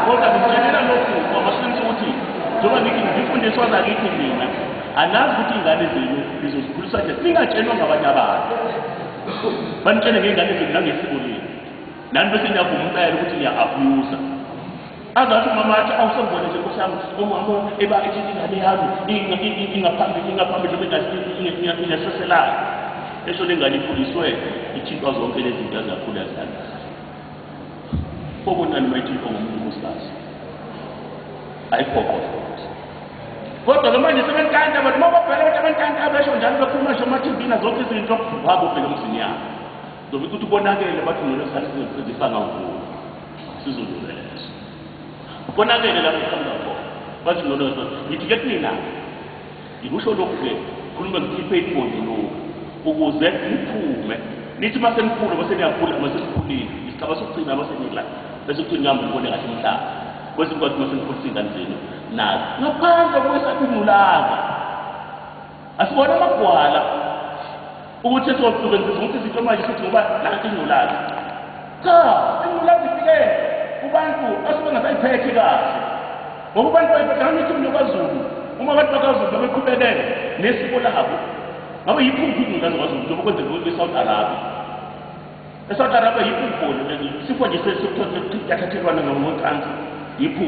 Kodwa ngitshela lokhu ngoba singathi ukuthi njengoba ngithi ngifundiswa ngakithi mina anazi ukuthi ingane zenu nizozikhulisa nje ningatshelwa ngabanye abantu. Banitshele ngengane zenu nangesikoleni. Nani bese niyavuma impela ukuthi niya-abuser. angathi umama athi awusembone nje nkosi yami umama eba ethi ingane yami ingaphambili ingaphambili noma ingathi ingaseselayo esho le ngane ikhuliswe ithintwa zonke lezi zinto ezakhula zihambisa obonani uma ithintwa ngomuntu unkosikazi ayiphoqoe kodwa ke manje sebenkanta abantu uma babhela abantu abankanta abesho njalo bekhuluma nje emathivini zonke izinto wabo ubhele umzini yabo Noma ukuthi ubonakele bathi ngeke sathi sizosebenzisa ngavula. Sizolungela leso. Ubonakele lapho uqhamuka khona. Bathi ngolo ngithi ke kunina. Ngikusho lokhu ke khuluma ngikhiphe iqondi lokhu ukuze ngiphume. Nithi mase nikhulu base niyakhula mase nikhulile. Isigaba sokugcina mase nila. Bese kuthi ngihambe ngibone kahle umhlaba. Kwesinye kwathi mase nikhulisa ingane zenu nazo. Ngaphandle kwesabimulanga. Asibona amagwala ukuthi esizosebenzisa ukuthi sitho manje sithi ngoba nanti ingculazi. Cha, ingculazi ifike kubantu asuke ngasayiphethe kahle. Ngoba abantu bayibhekana ukuthi umuntu kwaZulu uma abantu bakwaZulu babeqhubekele nesiko labo. Ngabe yikho ingculazi kwaZulu njengoba kwenzeka ukuthi eSouth Arabia. eSouth Arabia yikho ukugula isifo nje sesithathelwana ngocansi yikho.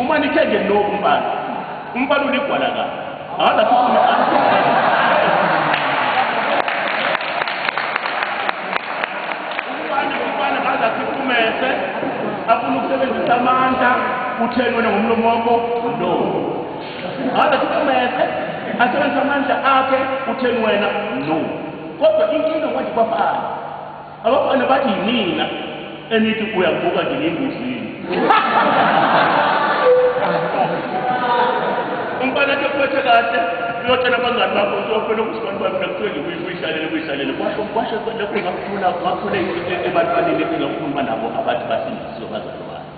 Uma nithe nje no umfana. Umfana uligwala ka. Akaza kukhuluma afuna ukusebenzisa amandla utheni wena ngomlomo wakho no ngabe sikumese asebenzisa amandla akhe utheni wena no kodwa inkinga kwanje kwafana Abafana bathi yinina enithi uyabuka nje ngengozini. Umfana ke kuphethe kahle uyotshela abangani bakho ukuthi wafuna ukusibani bami nakuthiwe nje uyihlalele uyihlalele kwasho kwasho lapho ngakuthula ngakuthula ebantwaneni engakhuluma nabo abathi basindisiwe bazalwane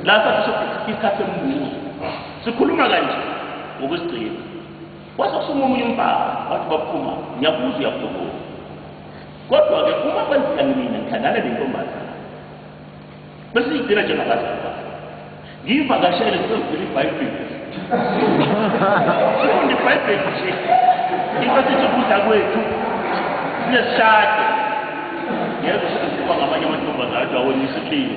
lapha sisho isikhathi sembuzo sikhuluma kanje ngokuzigcina Kwase kusuka omunye umfana wathi baphuma ngiyakuza uyakulobola kodwa-ke uma kwenzeka mina ngithandana nentombazana bese ngigcina njengabazali bakhe ngiyivakashele sisezivela ibhayibheli funda ibhayibheli nje into sithi ukudla kwethu siyesishade yebo sekuziwa ngamanye amantombazana athi awona isihlile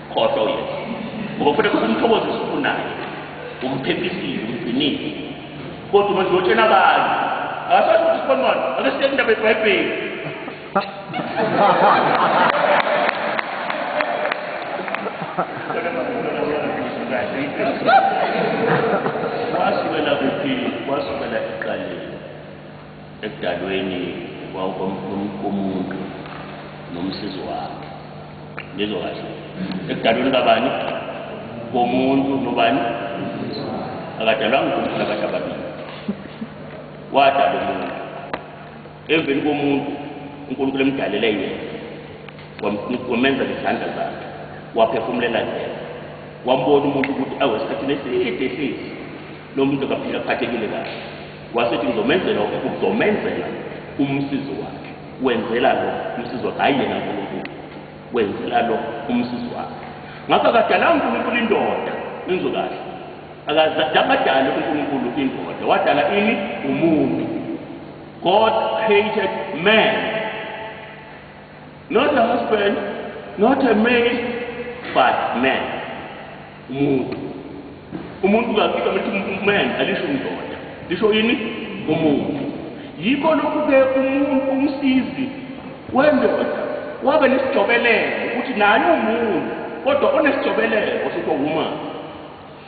khohlwa uyesu ngoba kufanele umthokozise ufunayo umphephisiwe umgcinile kodwa uma ziyotshela abanye akasazi ukuthi sikhonwana ake siye kundaba ebhayibheli wasukela kuphi wasukela ekuqaleni Ekudalweni komuntu nomsizi wakhe. Ngizwa kahle. Ekudalweni kabani? Komuntu nobani? Akadalwanga umuntu nakade ababili. Wadala umuntu. Emveni komuntu uNkulunkulu emdalele yena wamenza ngezandla zakhe waphefumulela yena wambona umuntu ukuthi awesikhathini eside esisi lo muntu akaphila aphathekile kahle Wasethi ngizomenzela ukhulu, ngizomenzela umsizi wakhe. Wenzela lo umsizi wakhe, hhayi yena uNkulunkulu. Wenzela lo umsizi wakhe. Ngakho akadalanga uNkulunkulu indoda, nizwe kahle. Akadali uNkulunkulu indoda, wadala ini? Umuntu. God created man. Not a husband, not a male, but man. Umuntu. Umuntu kakhulu ukuthi man alisho indoda. Lisho yini? Umuntu. Yikho lokhu ke umuntu umsizi wendoda wabe nesijobelelo ukuthi naye umuntu kodwa onesijobelelo sithiwa woman.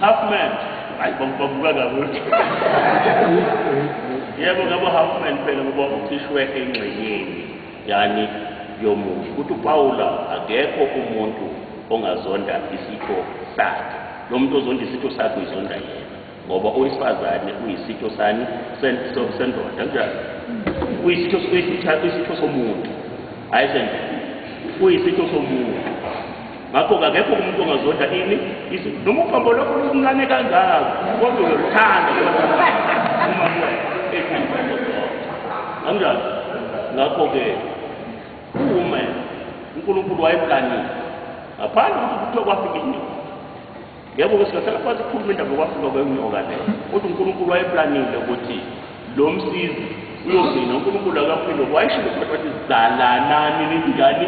Half man. Ay bambuka kakuthi. Yebo ngabo half man phela ngoba ucishwe engxenyeni yani yomufi. Kuthi uPawula akekho umuntu ongazonda isitho sakhe. Lo muntu ozonda isitho sakhe uyizonda yena. Ngoba owesifazane uyisitho sani sendoda kanjani? Uyisitho uyisitho somuntu. Hayi sendoda. Uyisitho somuntu. ngakho kakekho umuntu ongazonda ini izulu noma uphombo lokho luncane kangako kodwa uyoluthanda uma kanjani ngakho-ke ume unkulunkulu wayemkanile ngaphandle ukuthi kuthiwa kwafika inyoni Yebo ke singahlala phansi ukukhuluma indaba yokwafika kwenyoka le. Kodwa uNkulunkulu wayeplanile ukuthi lo msizi uyogcina uNkulunkulu akaphilo wayishilo ukuthi wathi zalanani ningani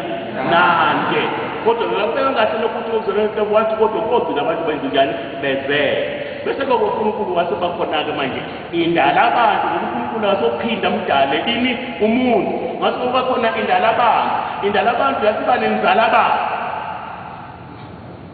nanke. Kodwa ngakubeka kahle lokho ukuthi uzolonke wathi kodwa kogcina abantu benzingani bezele. Bese ke uNkulunkulu wasebakhona ke manje indala abantu uNkulunkulu wasophinda mdale ini umuntu. Ngase kuba khona indala abantu. Indala abantu yasiba nenzala abantu.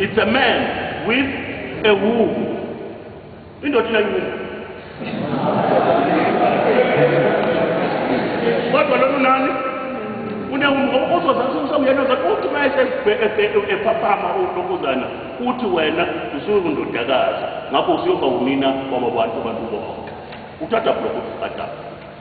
It's a man with a woman. Indoda inayini? Kodwa lolu nani? Unewumuntu ozozathi usawuyena uzathi uthi uma esephaphama uNtokozana uthi wena usuyindodakazi ngakho usuyoba wunina waba bantu abantu bonke. Uthatha blokho uqatha.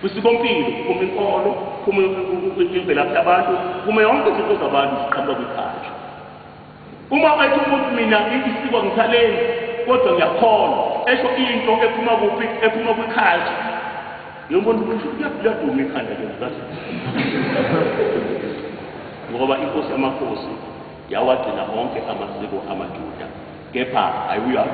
Kwisikompilo kuphuma inkolo, kuphuma imvelaphi yabantu, kuphuma yonke izinto zabantu ziqhamuka kwikhaya. Uma ethi umuntu mina isiko ngisalenzi kodwa ngiyakholwa, esho into ephuma kuphi? Ephuma kwikhaya. Ngiyobona ukuthi kuyaduma ikhanda lomkazi. Ngoba inkosi yamakhosi yawagcina onke amasiko amaJuda. kepha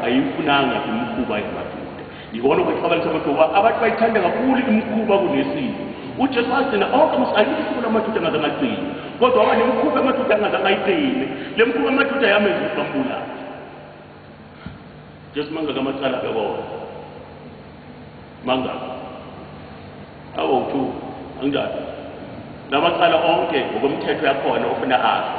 ayifunanga imikhuba yamaJuda. Yikona okwexabanisa kodwa ukuba abantu bayithanda kakhulu imikhuba kunesiko. UJesu wagcina onke amasiko, ayikho isiko lamaJuda angazange agcine, kodwa waba nemikhuba yamaJuda angazange ayigcine. Le mikhuba yamaJuda yamenza ukuthi bambulale. Jesu mangaki amacala abekona? Mangaki? Awu-two, anginjalo? La macala onke ngokomthetho yakhona ofuna afe.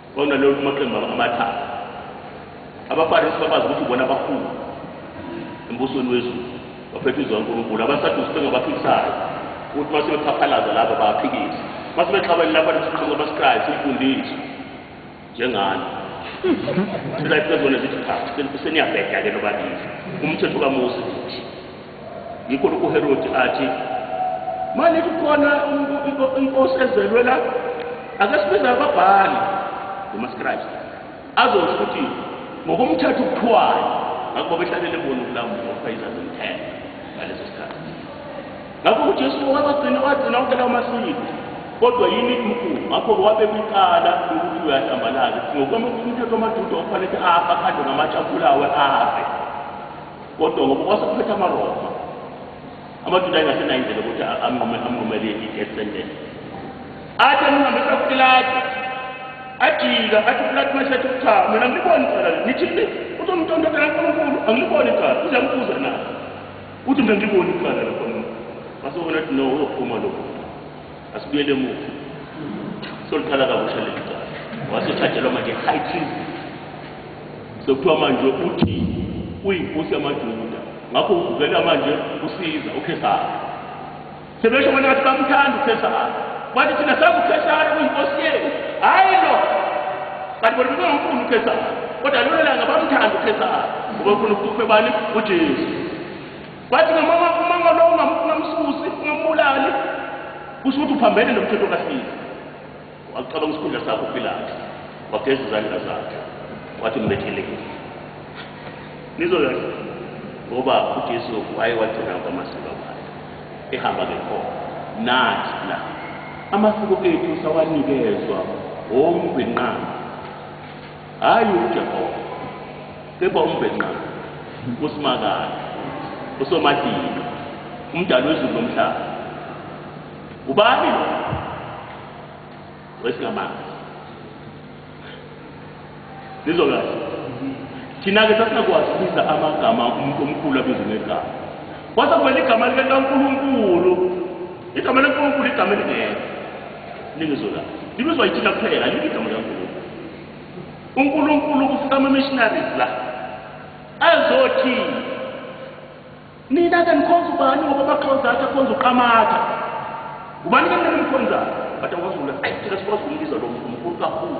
Bona lolu kumaqembu amathathu. AbaFarisi babazi ukuthi bona abakhulu embusweni wezulu baphethe izwi kaNkulunkulu. AbaSadusi bengabaphikisayo ukuthi uma sebephaphalaza laba baphikise. Uma sebexabene lapha nesiqhamuka abasikrayi simfundisi njengani. Sila iphezu kwenezithi cha seniyabheda-ke nobabili. Umthetho kaMose uthi. Yikho lokhu uHerodi athi, Manje kukhona inkosi ezelwe la, ake sibize ababhali ngomaskribe azosho ukuthi ngokomthetho ukuthiwayo ngakuba behlalele bona ukulamula ukufayisa zomthetho ngaleso sikhathi ngakho ujesu wabagcina wagcina wonke lawo masiko kodwa yini inkulu ngakho-ke wabeka icala lokuthi uyahlambalaza ngokomthetho amajuda okufanele afe akhandwe ngamatsha abulawe afe Kodwa ngoba kwasekuphetha amaRoma, amaJuda ayengasenayo indlela ukuthi anqume anqumele i-death sentence. Athi amhambisa kuPilate, ajika athi uPilate mase ethi cha, mina ngiliboni icala leli. Nithi le uthi umntontotela uNkulunkulu, angiliboni icala. Uze ambuze na? Uthi mina ngiliboni icala lakho. Wasebona ukuthi no, uyophuma lokho. Asibuyele emuva. Soliqala kabusha leli cala. Wasethajelwa manje high treason. Sekuthiwa manje uthi uyinkosi yamaJuda. Ngakho uvukela manje usiza uKhesari. Sebesho bona ngathi bamthanda uKhesari. Bathi thina sazi uKhesari uyinkosi yethu. Hayi lo. Kanti bona bebengumfuni uKhesari. Kodwa lona langa bamthanda uKhesari. Ngoba ufuna ukufa bani? UJesu. Wathi noma uma ngalowo ungamsusi ungambulali kusho ukuthi uphambene nomthetho kaSiza. Waqala isikhundla sakho uPilate wageza izandla zakhe wathi mbetheleni. Nizoyazi ngoba uJesu waye wagcina kwamasiko akhe ehamba ngekhona nathi la amasiko ethu sawanikezwa wombinqama Hhayi uJehova, kepha uMbhenqanga, uSimakade, uSomatika, uMdali wezulu nomhlaba. Ubani lo? Wesingamazi. Nizwa kahle. Thina-ke sasingakwazi ukubiza amagama umuntu omkhulu abize ngegama. Kwase kumele igama likaNkulunkulu. Igama likaNkulunkulu igama elingekho. Lingizwe la. Libizwa ithina kuphela, alikho igama likaNkulunkulu. UNkulunkulu kufika ama-missionaries la. Azothi nina ke nikhonza ubani ngoba bakhonza athi akhonza uqamatha. Ubani ke mina ngimkhonzayo? But awazula. Ayi thina sikwazi ukumbiza lo mkhulu kakhulu.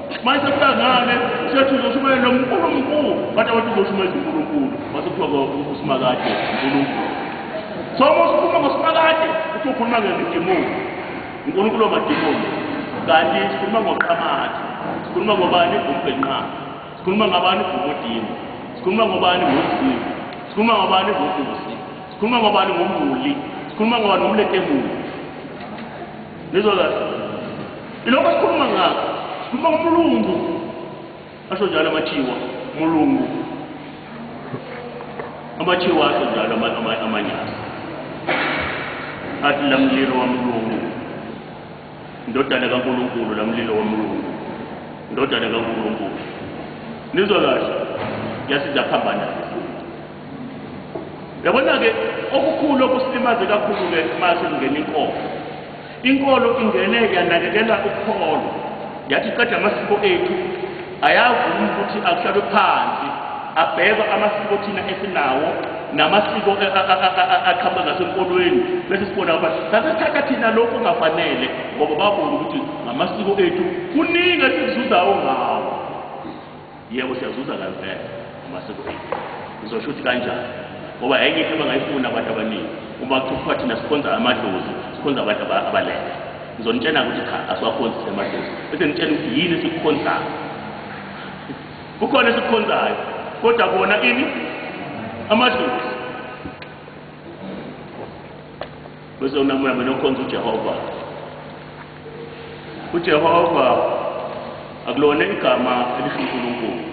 manje sekubangane sethi uzoshumayela uNkulunkulu bathi abantu uzoshumayela uNkulunkulu wasekuthiwa usimakade uNkulunkulu so uma usikhuluma ngosimakade uthi ukhuluma ngemidimoni uNkulunkulu wamadimoni kanti sikhuluma ngoqhamakhe sikhuluma ngobani umbhenqana sikhuluma ngabani ngomudini sikhuluma ngobani ngomzini sikhuluma ngobani ngokusi sikhuluma ngobani ngomuli sikhuluma ngobani ngomletemuli Ngizwa kahle. Ilokho sikhuluma ngakho. Sikhuluma ngomlungu. Asho njalo amathiwa, mulungu. Amathiwa asho njalo amanyasa. Athi lamlilo wamlungu. Indodana kaNkulunkulu lamlilo wamlungu. Indodana kaNkulunkulu. Nizwa kahle. Yasiza phambana. Yabona-ke okukhulu okusilimaze kakhulu-ke uma sekungena inkolo. Inkolo ingene yanakekela ukholo, yathi qeda amasiko ethu, ayavuma ukuthi akuhlalwe phansi, abhekwa amasiko thina esinawo namasiko aqhamuka ngasenkolweni bese sibona ngoba sasethatha thina lokhu kungafanele ngoba babona ukuthi ngamasiko ethu kuningi esikuzuzayo ngawo Yebo siyazuza kanvele uma sekuphinde. Ngizosho ukuthi kanjani? Ngoba enye into abangayifuna abantu abaningi uma kuthiwa thina sikhonza amadlozi, sikhonza abantu aba- abalele. Ngizonitshena ukuthi cha asiwakhonzi thina amadlozi. Bese ngitshena ukuthi yini esikukhonzayo. Kukhona esikukhonzayo kodwa kona ini amadlozi. Bese unamoya mina ukhonza uJehova. UJehova akulona igama elisho uNkulunkulu.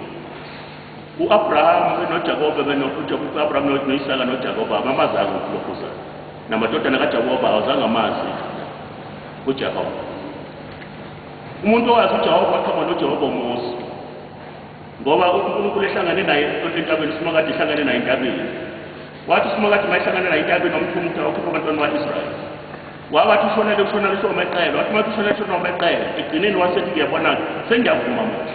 U-Abraham noJakobe benoAbraham noIsaka noJakobe abamazanga uNkulunkulu. Namadodana kaJakobe awazange amazi uJehova. Umuntu owazi uJehova aqhama noJehova uMose. Ngoba uNkulunkulu ehlangane naye entabeni simakade ehlangane naye entabeni. Wathi uSimakade uma ehlangana naye iNtabeni wamthuma ukuthi ayokhipha abantwana bakwa-Israyeli. Wawathi ushonele kushona lisho omeqele, wathi uma kushona lisho nomeqele, egcineni wasethi ngiyabona-ke, sengiyavuma manje.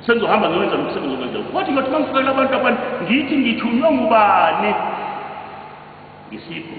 Sengizohamba ngiwenza lomsebenzi okwenze. Wathi ngiyothi uma ngifukela abantu abantu, ngithi ngithunywe ngubani? Ngisipho.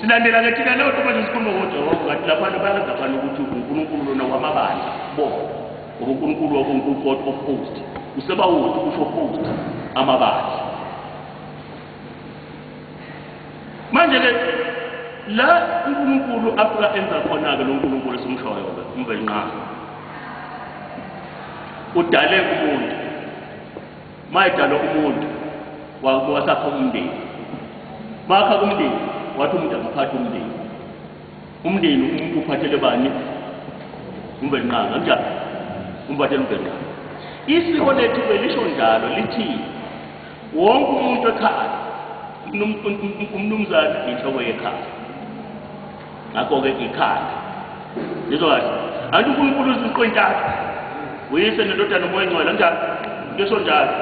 silandela ke thina leyo nto manje sikhuluma ngojehova ngathi labantu bayazi abani ukuthi unkulunkulu lona wamabandla bona ngoba unkulunkulu wakunkulunkulu of host usebawuthi usho host amabandla manje ke la unkulunkulu afika enza khona-ke lo nkulunkulu esimshoyo-ke umvelnqana udale umuntu Mayedalwa umuntu wakuba wasakha umndeni. Makha kumndeni wathi umuntu akaphathe umndeni. Umndeni umuntu uphathele bani? Umbenqanga kanjani? Umphathele umbenqanga. Isiko lethu belisho njalo lithi wonke umuntu ekhaya umnumzane inhloko yekhaya. ngakho-ke ikhanda ngizwa kahle anti unkulunkulu uziqo intathu uyise nendodana umoya engcwele njalo ngisho njalo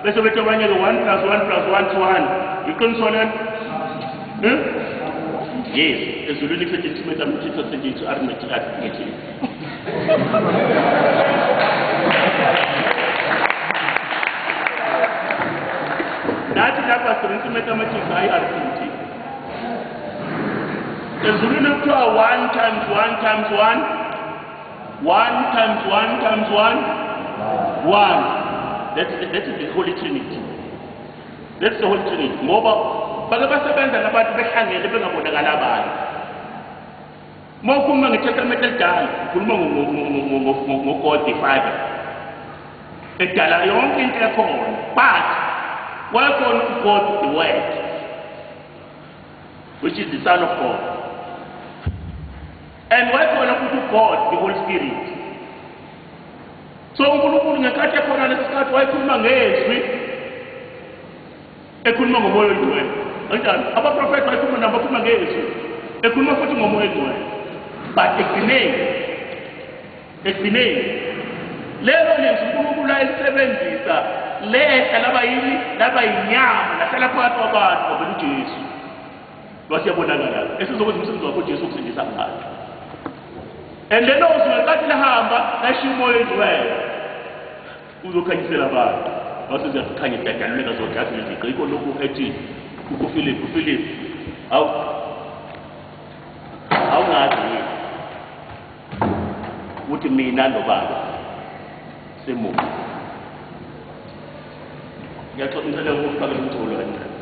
bese bethi abanye-ke one plus one plus one to one iqiniso lelo hmm? yes ezulwini kusethi intimate amthitho sethi ithu arithmetic arithmetic nathi lapha sisebenzisa i-mathematics hayi i-arithmetic ezulwini kuthiwa one times one times one one times one times one one that's, that's the holy trinity that's the holy trinity ngoba bake basebenza nabantu behlangene bengabonakala abantu Uma ukhuluma ngeTestamente elidala, ukhuluma ngo-God the Father. Edala yonke into ekhona. But wayekhona uGod the Word, which is the Son of God. And wayekhona futhi uGod the Holy Spirit. So uNkulunkulu ngenkathi ekhona lesikhathi wayekhuluma ngezwi Ekhuluma ngoMoya oyiNgcwele. Kanjalo. Abaprofethi bayikhuluma nabo bakhuluma ngezwi. Ekhuluma futhi ngoMoya oyiNgcwele. But ekugcineni, ekugcineni, lelo lizwi uNkulunkulu ayisebenzisa lehla laba yini laba yinyama lahlala phakathi kwabantu kwavela uJesu lwathi yabonakala esizokwenza umsebenzi wakho uJesu wokusindisa abantu and lelo zwi ngenkathi lihamba lashiya umoya oyingcwele Uzokhanyisela abantu base ziyasikhanya idadanimela zonke athi iziqe yikho lokhu ethi uKuphilip uPhilip awu awungazi yini ukuthi mina nobaba simubi ngiyaxoxa ngicela ukufaka umculo kancane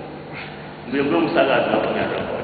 ngibe ngumsakazi lapho ngiyakhona